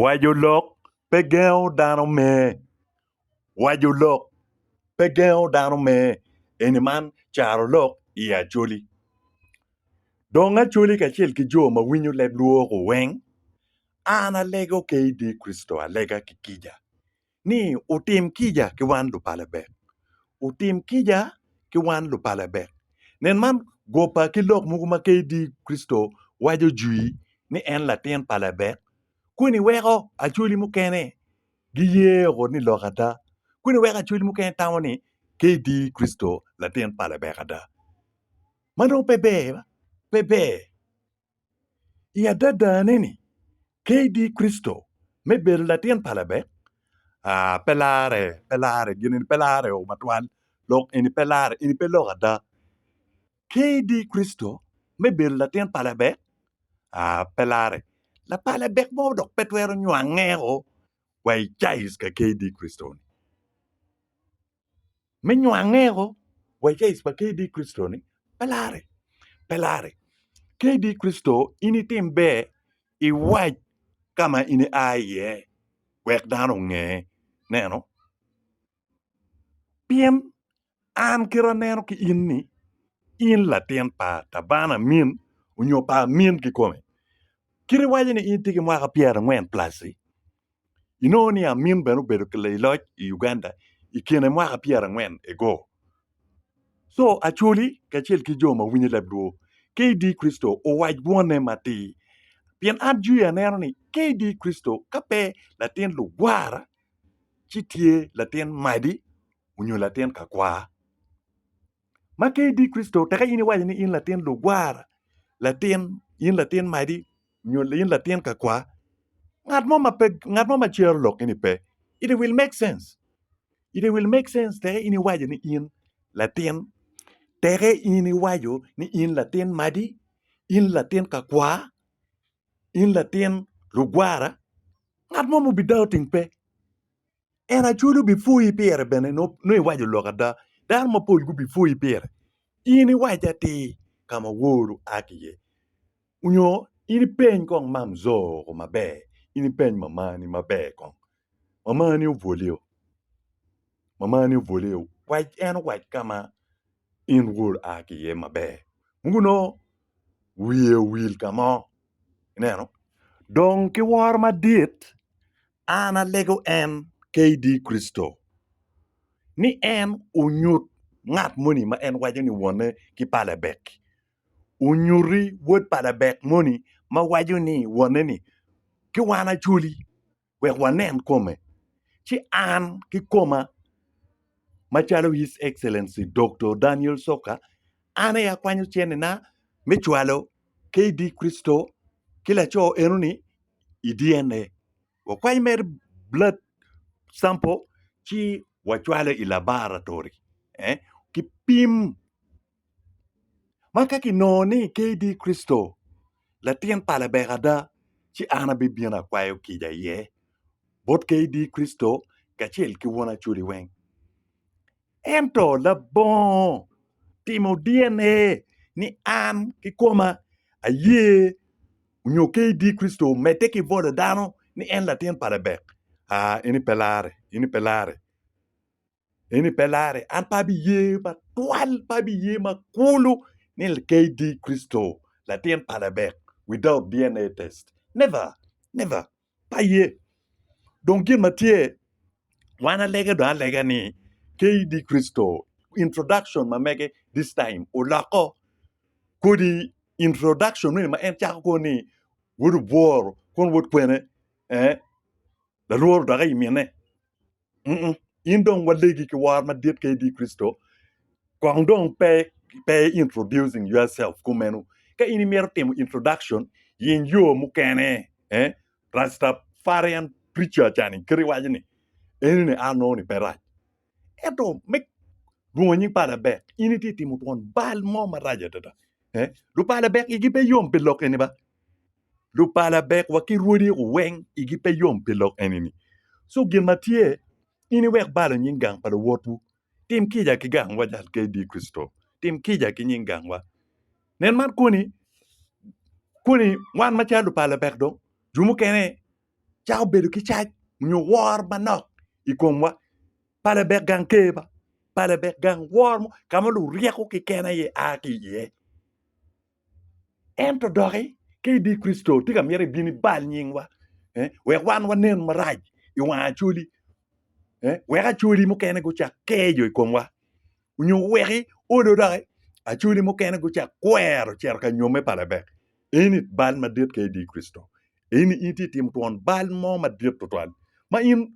Waco lok pe gengo dano me Waco lok pe gengo dano me eni man caro lok i Acholi. Dong Acholi kacel ki jo ma winyo leb lwok-gu weng, an alego ke i dye Kricito alega ki kica. ni otim kica ki wan lupalabek, otim kica ki wan lupalabek. Nen man goba ki lok mogo ma KD Kricito waco jwi ni en latin pa Labek, kweni weko Acholi mukene giyeo ni lok ada, kweni weko Acholi mukene tamo ni KD Kricito latin pa Labek ada. Ma dong pe ber, pe ber. I adadane-ni, KD. Kricito me bedo Latin pa Labek pe lareo matwal dok eni pe larre, eni pe lok ada. KD. Kricito me bedo Latin pa Labek pe larre, lapa Labek mo dok pe twero nywangeo wa i caice ka KD. Kricito-ni. me nwange o wa i caic pa KD Kricito ni? Pe larre, pe larre. KD Kricito in itim ber iwac ka ma in ia iye wek dano onge. Neno, pien an kite aneno ki in ni in latin pa tabana amin onyo pa amin kikome. Kit iwaco ni in itye ki mwaka pyerangwen plus-ci, inongo ni Amin bene obedo laii loc i Uganda i kine mwaka pyera angwen ago. Co Acholi kacel ki jo ma winyo leb lwor KD Kricito owac bwone matir. Pien an jwi aneno ni KD Kricito ka pe latin lugwara ci tye latin madi onyo latin kakwar. Ma ka idi Kricito, teka in iwaco ni in latin lugwara, latin, in latin madi, nyo in latin kakwar. Ngat mo ma pe, ngat mo ma cero lok eni pe. It will make sense. It will make sense teka in iwaco ni in latin. Teka in iwaco ni in latin madi, in latin kakwar, in latin lugwara. Ngat mo ma obi doubting pe. En acwali obipwoyi pire bene nongo iwaco lok ada. Dano mapol gubipwoyi pire. In iwac atir ka ma woro a ki iye nyo in ipeny kong mamzoro maber, in ipeny mamani maber kong. Mamani obwoliyo, mamani obwoliyo wac en owac ka ma in woro a ki iye maber. Mogo nongo wiye owil ka mo, ineno dong ki woro madit. An alego en, KD. Kricito, ni en onyut ngat moni ma en waco ni wonne ki pa Lebek. Onyuti wod pa Lebek moni ma waco ni wonne ni, Ki wan acoli, wek wanen kome, ci an ki koma, macalo His Excellency Doktor Daniel Soka, an aye akwanyo cennina me cwalo Ka idi Kricito ki laco enoni i DNA, wakwanyo mere blood sample ci wacwale i labaratory ki pim. Ma ka kinongo ni ka idi Kricito latin pa Lebek ada, ci an abibino akwayo kica iye bot ka idi Kricito kacel ki won Acholi weng. Ento labongo timo DNA ni an kikoma aye onyo KD Kricito omedde ki bwolo dano ni en latin pa Lebek? Aa, eni pe larre, eni pe larre, eni pe larre. An pe abiye matwal, pe abiye makulu ni KD Kricito latin pa Lebek without DNA test. Never, never. aye dong gin ma tye wan alege dong alega ni KD Kricito introduction ma mege this time oloko kodi introduction nonge ma en cako kwo ni wod obworo kono wod kwene eh lalworo dok aye mine. Mm-mm. In dong walegi ki war madit ka idi Kricito, kong dong pe pe i introducing yourself kumeno. Ka in imito timo introduction, yeny yo mukene. Eh? Rastafarian preacher cani kite waco ni, eni ni ano ni pe rac. Ento me lwongo nying pa Labek, in itye ka timo twon bal mo marac adada. Eh? Lupa Labek igi pe yom pi lok eni ba? lupala bek wa ki rwodi weng igi pe yom pi lok eni ni co gin ma tye in iwek balo nying gang pa luwotwu tim kica ki gang wa jal KD Christo tim kica ki nying gang wa nen man koni koni wan ma calo lupala bek dong jo mukene cako bedo ki cac nyo wor manok i kom wa pala bek gang ker ba pala bek gang wor mo ka ma luryeko ki kene aye a ki iye Ento doki, ka idi Kricito, tika myero ebin ibal nyingwa wek wan wanen marac i wang Acholi, wek Acholi mukene gucak keco i komwa, nyo weki odo doki Acholi mukene gucak kwero cito ka nyomme pa Lebek? Eni bal madit ka idi Kricito. Eni in tye itimo twon bal mo madit tutwal ma in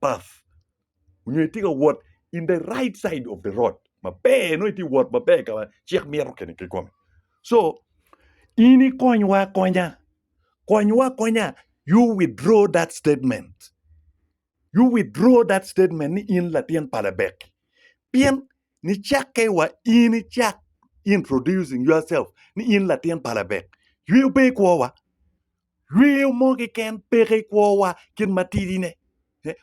path nyo itye ka wot in the right side of the road maber nongo itye ka wot maber ka ma cik mito kene kikome so in ikonywa akonya konywa akonya you withdraw that statement you withdraw that statement ni in latin pa Lebek pien nicakke wa in icak introducing yourself ni in latin pa Lebek yweyo pe ikwowa Lweo mo keken peke i kwowa kit matidine.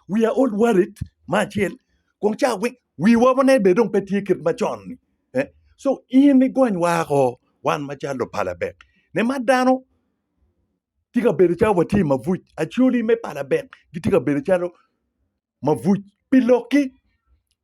We are all worried me acel kong ca weng wiwa wonei bene dong pe tye kit macon ni. So in igony wako wan macalo lupalabek ni ma dano tye ka bedo calo watye i mabuc, acoli me palabek gitye ka bedo calo mabuc pi lokki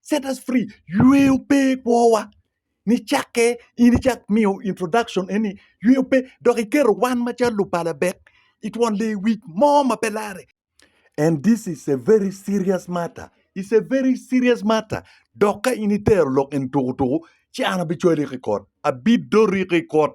set us free yweyo pe kwowa nicakke in icak miyo introduction eni yweyo pe dok iketo wan macalo lupalabek i twon lewic mo ma pe larre and this is a very serious matter is a very serious matter dok ka in itero lok eni tukutuku ci an abicwali ki kot abidori ki kot.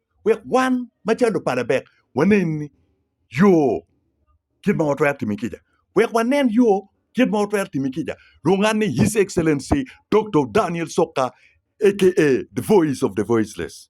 wek wan macalo lupa Labek wanen ni yo kit ma watwero timi kica. Wek wanen yo kit ma watwero timi kica, lunganne His Excellency Doktor Daniel Sokka aka The Voice of the Voiceless.